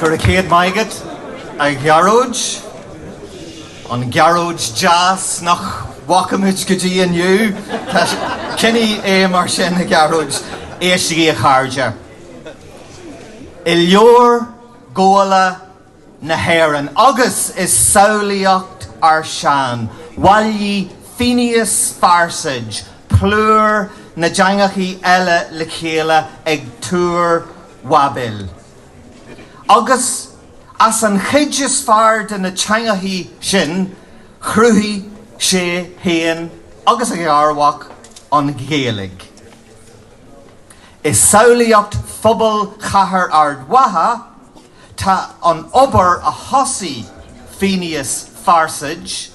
Gura céad maith agat, a Ghearóid. An Gearóid deas nach bhfaca muid go dtí inniu. Tá, coinnigh é mar sin, a Ghearóid. Éistigí, a chairde. I leabhar Gabhála na hÉireann, agus i samhlaíocht ár sean bhailigh Féinius Farsaid plúr na dteangachaí eile le chéile ag Túr Bháibil. Agus as an chuid is fearr de na teangachaí sin chruthaigh sé féin agus a gharmhac an Ghaeilge. I samhlaíocht phobal chathair Ard Mhacha tá an obair a thosaigh Féinius Farsaid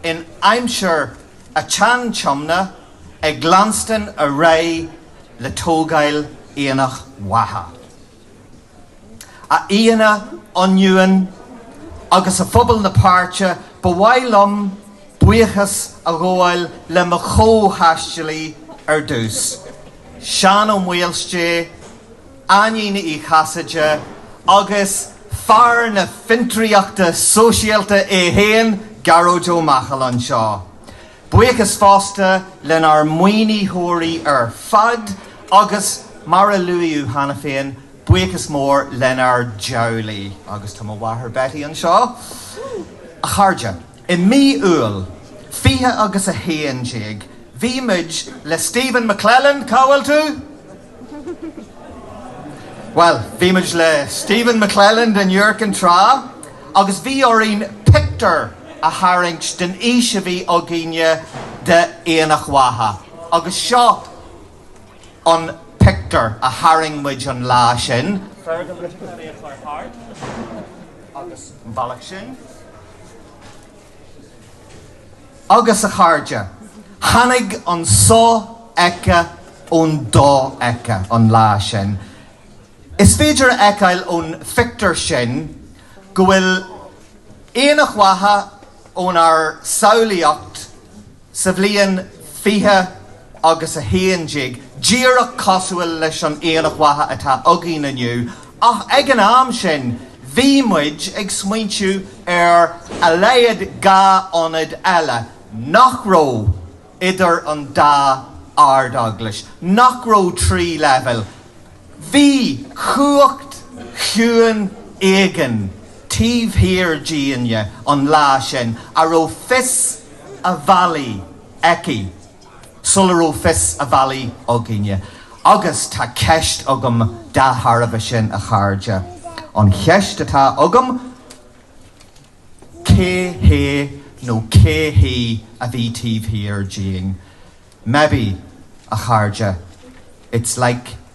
in aimsir an tSean-Tiomna ag leanstan ar aghaidh, le tógáil Aonach Mhacha. A aíonna ionúin agus a phobal na páirte, ba mhaith liom buíochas a ghabháil le mo chomh-thaistealaí ar dtús, Seán Ó Maoilsté, Áinín Uí Chasaide agus fear na fiontraíochta sóisialta é féin, Gearóid Ó Machail anseo. Buíochas fosta lenár maoinitheoirí ar fad agus, mar a luaíodh cheana féin, buíochas mór lenár dteaghlaigh, agus tá mo mháthair Betty anseo! A chairde, i mí Iúil 20 agus 11, bhí muid le Stephen McClelland, cá bhfuil tú? Bhuel, bhí muid le Stephen McClelland in Iúr Cinn Trá agus bhí orainn pictiúr a tharraingt den fhís a bhí againne d'Aonach Mhacha agus seo an pictiúr a tharraing muid an lá sin. Fergal leis an chlaí a chur thart agus an bealach sin. agus a chairde, tháinig an sofheicthe ón dofheicthe an lá sin. Is féidir a fheiceáil ón phictiúr sin go bhfuil Aonach Mhacha ónár samhlaíocht sa bhliain 20 agus 11 díreach cosúil leis an Aonach Mhacha atá againn inniu Ach ag an am sin bhí muid ag smaointiú ar a laghad dhá ionad eile nach raibh idir an dá Ard-Eaglais, nach raibh trí leibhéal. Bhí cumhacht chiúin éigin taobh thiar dínne an lá sin a raibh fios a bhealaigh aici. sula rabh fios a bhealaigh againne. Agus tá ceist agam dá thairbhe sin, a chairde. An cheist atá agam, cé hé nó cé hí a bhí taobh thiar dínn? Maybe, a chairde, it's like.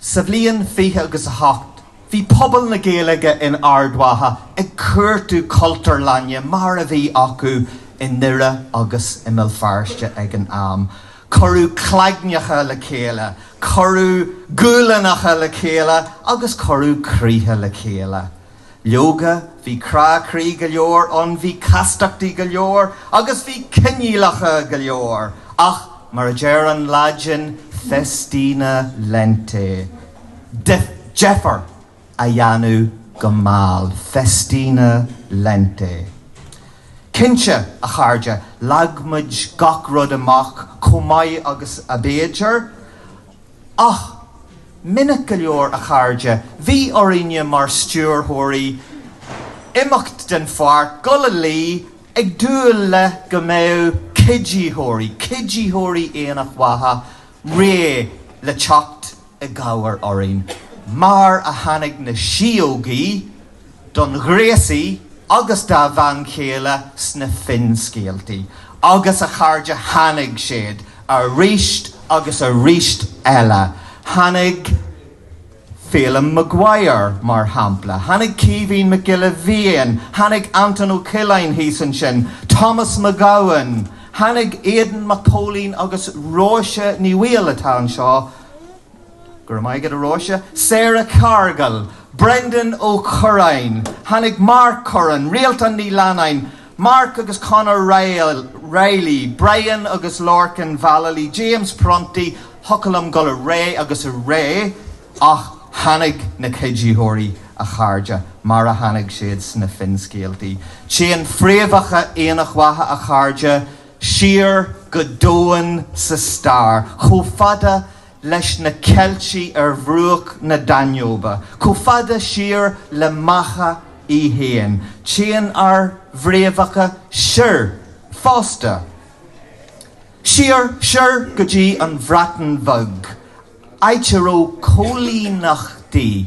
Sa bhliain fiche agus a hocht, bhí pobal na Gaeilge in Ard Mhacha ag cuartú Cultúrlainne mar a bhí acu i nDoire agus i mBéal Feirste ag an am. Cuireadh claigneacha le chéile, cuireadh guailleanacha le chéile agus cuireadh croíthe le chéile. Leoga, bhí crá croí go leor ann, bhí castachtaí go leor, agus bhí coinníollacha go leor, ach mar a deir an Laidin, festina lente. deifir a dhéanamh go mall, festina lente. Cinnte, a chairde, leag muid gach rud amach chomh maith agus ab fhéidir, Ach, minic go leor, a chairde, bhí orainne mar stiúrthóirí imeacht den pháirc, goil a luí, ag dúil le go mbeadh cuiditheoirí, cuiditheoirí Aonach Mhacha, réidh le teacht i gcabhair orainn, mar a tháinig na síógaí! don ghréasaí agus dá bhean chéile sna finscéaltaí, agus a chairde Tháinig siad aríst agus aríst eile. Tháinig Phelim Maguire, mar shampla. Tháinig Caoimhín Mac Giolla Bhéin. Tháinig Anton Ó Coileáin thíos ansin. Thomas McGowan. Tháinig Aidan Mac Póilín agus Róise Ní Bhaoill atá anseo. Go raibh maith agat a Róise. Sarah Cargill, Brendan Ó Curráin, tháinig Mark Curran, Rialtán Ní Leannáin, Mark agus Conor Reilly, Brian agus Lorcan Vallely, James Prunty, thiocfadh liom goil ar aghaidh agus ar aghaidh ach tháinig na cuiditheoirí a chairde mar a tháinig siad sna finscéaltaí. Téann fréamhacha Aonach Mhacha a chairde siar go domhain sa stair chomh fada leis na Ceiltigh ar bhruach na Danóibe, chomh fada siar le Macha í féin. Téann ár bhfréamhacha soir fosta, siar soir go dtí an Bhreatain Bheag, áit a raibh coilíneachtaí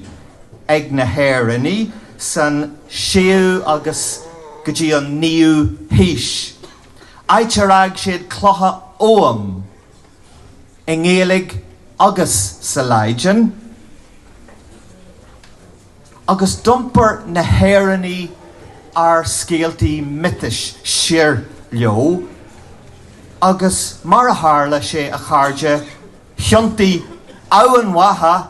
ag na hÉireannaigh sa séú agus go dtí an naoú haois, áit ar fhág siad clocha Ogham. i nGaeilge agus sa Laidin, agus d'iompair na hÉireannaigh ár scéaltaí miotais siar leo, agus mar a tharla sé, a chairde, thiontaigh Eamhain Mhacha,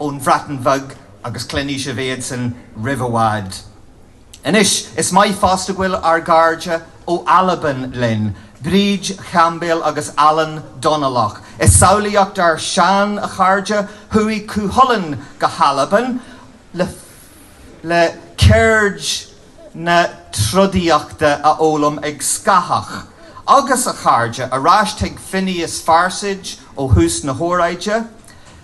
ón Bhreatain Bheag agus cluinfidh sibh iadsan roimh i bhfad. Anois, is maith fosta go bhfuil ár gcairde ó Albain linn, Bríd Chaimbeul agus Alan Dónallach. I samhlaíocht ár sean, a chairde, chuaigh Cú Chulainn go hAlbain le ceird na trodaíochta a fhoghlaim ag Scáthach agus a chairde, ar ais chuig Féinias Farsaidh ó thús na hóráide,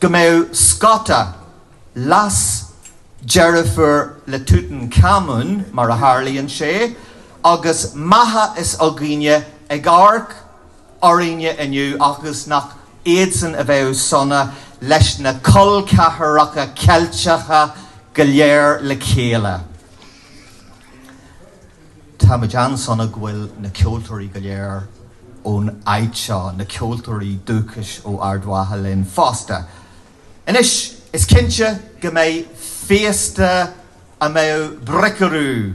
go mbeadh Scota, leasdeirfiúr le Tútancámún, mar a tharlaíonn sé, agus Macha is Úgaine ag amharc orainne inniu agus nach iadsan a bheadh sona leis na col ceathracha Ceilteacha go léir le chéile. Táimid an-sona go bhfuil na ceoltóirí go léir ón áit seo, na ceoltóirí dúchais ó Ard Mhacha linn fosta. Anois, is cinnte go mbeidh féasta a mbeadh Bricriu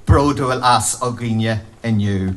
bródúil as againne inniu.